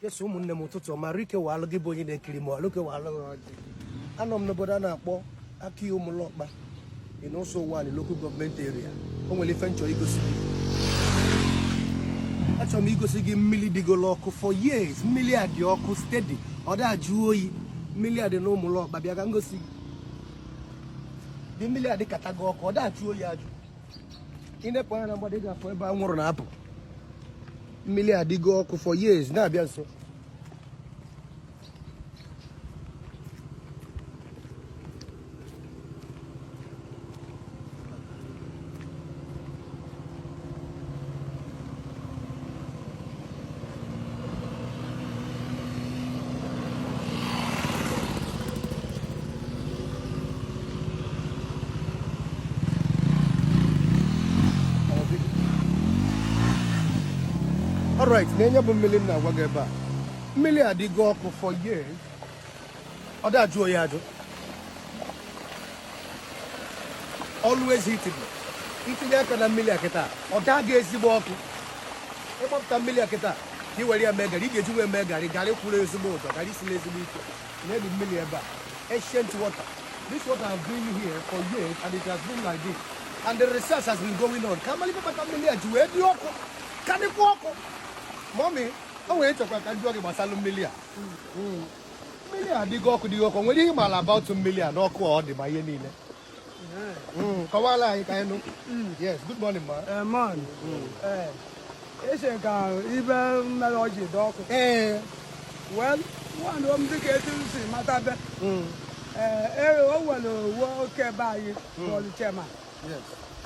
Yes, ụmụnne m ụtụtụ ọma Rike Walụ gị bụ onye na-ekiri m Rike Walụ ọjị anọ m n'obodo a na-akpọ Akiyi Ụmụlọkpa in Uzo-Uwani local government area o nwere ife m chọ igosi gị achọrọ m igosi gị mmiri dịgolo ọkụ for years mmiri a dị ọkụ steady ọ da-ajụ oyi mmiri a dị na Ụmụlọkpa bịa ka m gosi gị bụ mmiri a dịkatago ọkụ ọ da-ajụ oyi ajụ i nepụ anya na mgbada ị ga-afụ ebe anwụrụ na-apụ mmiri a dịgo ọkụ for years na-abịa nso All right, nene ya bụ mmiri m na-agwa gị ebe a mmiri a dịgo ọkụ for years ọ da-ajụ oyi ajụ always heated i tinye aka na mmiri a kịta ọ daa gị ezigbo ọkụ ị gbapụta mmiri a kịta ka i were ya mee garị ị ga-eji wee mee garị garị kwụrụ ezigbo ọtọ garị siri ezigbo ike nee bụ mmiri ebe a ancient water this water has been here for years and it has been like this and the research has been going on ka a malụ ife kpata mmiri a ji wee dị ọkụ ka dịkwa ọkụ mommy o nwere chọkwa ka m jụọ gị gbasara mmiri a mmiri a dịgo ọkụ dịgo ọkụ nwere ihe ị maara about mmiri a na ọkụ ọ dị ma ihe niile hmm, kọwala anyị ka anyị nụ hmm. yes good morning ma eh, man hmm. eh, ese ka ihe mere o ji dị ọkụ ee eh. well nwa m dịka etu m si mata be ee o nwere nwoke be anyị bụlụ chairman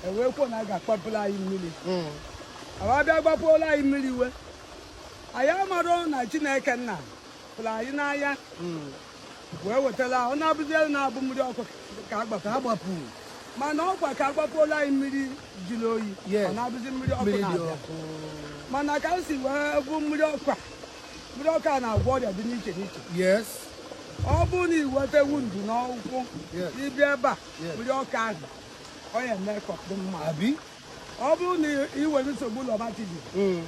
e wee kwuo na a ga-akpọpụrụ anyị mmiri a bịa gbapuola anyị mmiri e wee anyị amarọ na chineke nna hụrụ anyị n'anya wee wetara ọ na-abụzi elu na-abụ mmiri ọkụ ka agbapụ agbapụ mana ọ kwa ka a gbapuola anyị mmiri jụrụ oyi Yes. ọ na-abụzi mmiri ọkụ mmiri dị na-abịa ọkụ mana ka m si wee hụ mmiri ọkụ a mmiri ọkụ a na-agwọ ọrịa dị n'iche n'iche yes ọ bụrụ na i nweta wound n'ụkwụ Yes. ị bịa ebe a Yes. mmiri ọkụ ahụ ọ ya-eme ka ọ dị mma abi ọ bụrụ na ị nwere nsogbu rheumatism mm.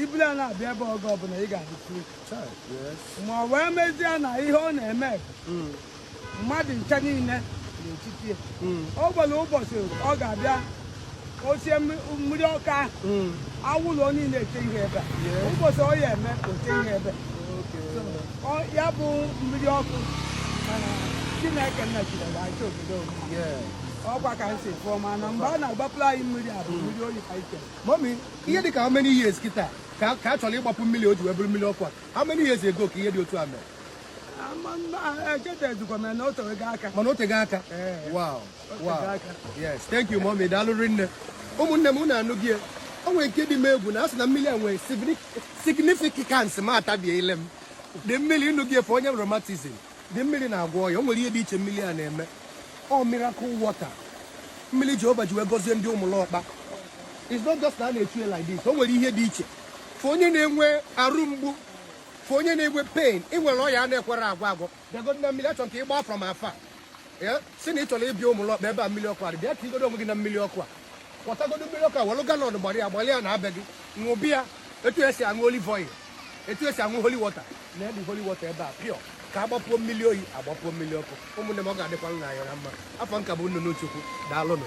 i buru ya na-abịa ebe a oge ọbụla ị ga-adị free ma ọ wee mezie na ihe ọ na-eme mm. mmadụ ncha niile n'etiti mm. o nwere ụbọchị ọ ga-abịa o sie mmiri ọkụ ahụ anwụlụ niile echie ebe ụbọchị ọ ya-eme o chie ebe ya bụ mmiri ọkụ mana chineke nna chineke acha obodo ọkwa ka m si fụọ mana mgbe a na-agbapụrụ anyị mmiri a bụ mmiri oyi ka ike mommy ihe dị ka how many years kịta ka ka a chọrọ ịgbapụ mmiri o ji wee bụrụ mmiri ọkụ a how many years ago ka ihe dị otu a mere echetazikwa m na o tewego aka mana o tego aka Ee. wow tego wow aka. yes thank you mommy daalụ rinne ụmụnne m unu anụgo ya o nwere nke dị m egwu na a sị na mmiri a nwere significance ma atabiele m the mmiri ịnụghị efe onye rheumatism the mmiri na-agwọ ọya o nwere ihe dị iche mmiri a na-eme ọ miracle water mmiri jehova ji wee gọzie ndị ụmụlọkpa it's not just na a na-echu ya like this o nwere ihe dị iche for onye na-enwe arụ mgbu for onye na-enwe pain ị nwere ọya na-ekwerọ agwọ agwọ bịagodo na mmiri a chọrọ ka ị gbaa from afar ee si na ị chọrọ ịbịa ụmụlọkpa ebe a mmiri ọkụ a dị bịa ka igodo onwe gị na mmiri ọkụ a kwọtagodo mmiri ọkụ a welụ gallon gbara ya gbalị ya naa be gị ṅụba ya etu e si aṅụ olive oil etu e si aṅụ holy water na ọ bụ holy water ebe a pure ka a gbapuo mmiri oyi a gbapuo mmiri ọkụ ụmụnne m ọ ga-adịkwanụ anyị na mma afa m ka bụ nnụnụ chukwu daalụnụ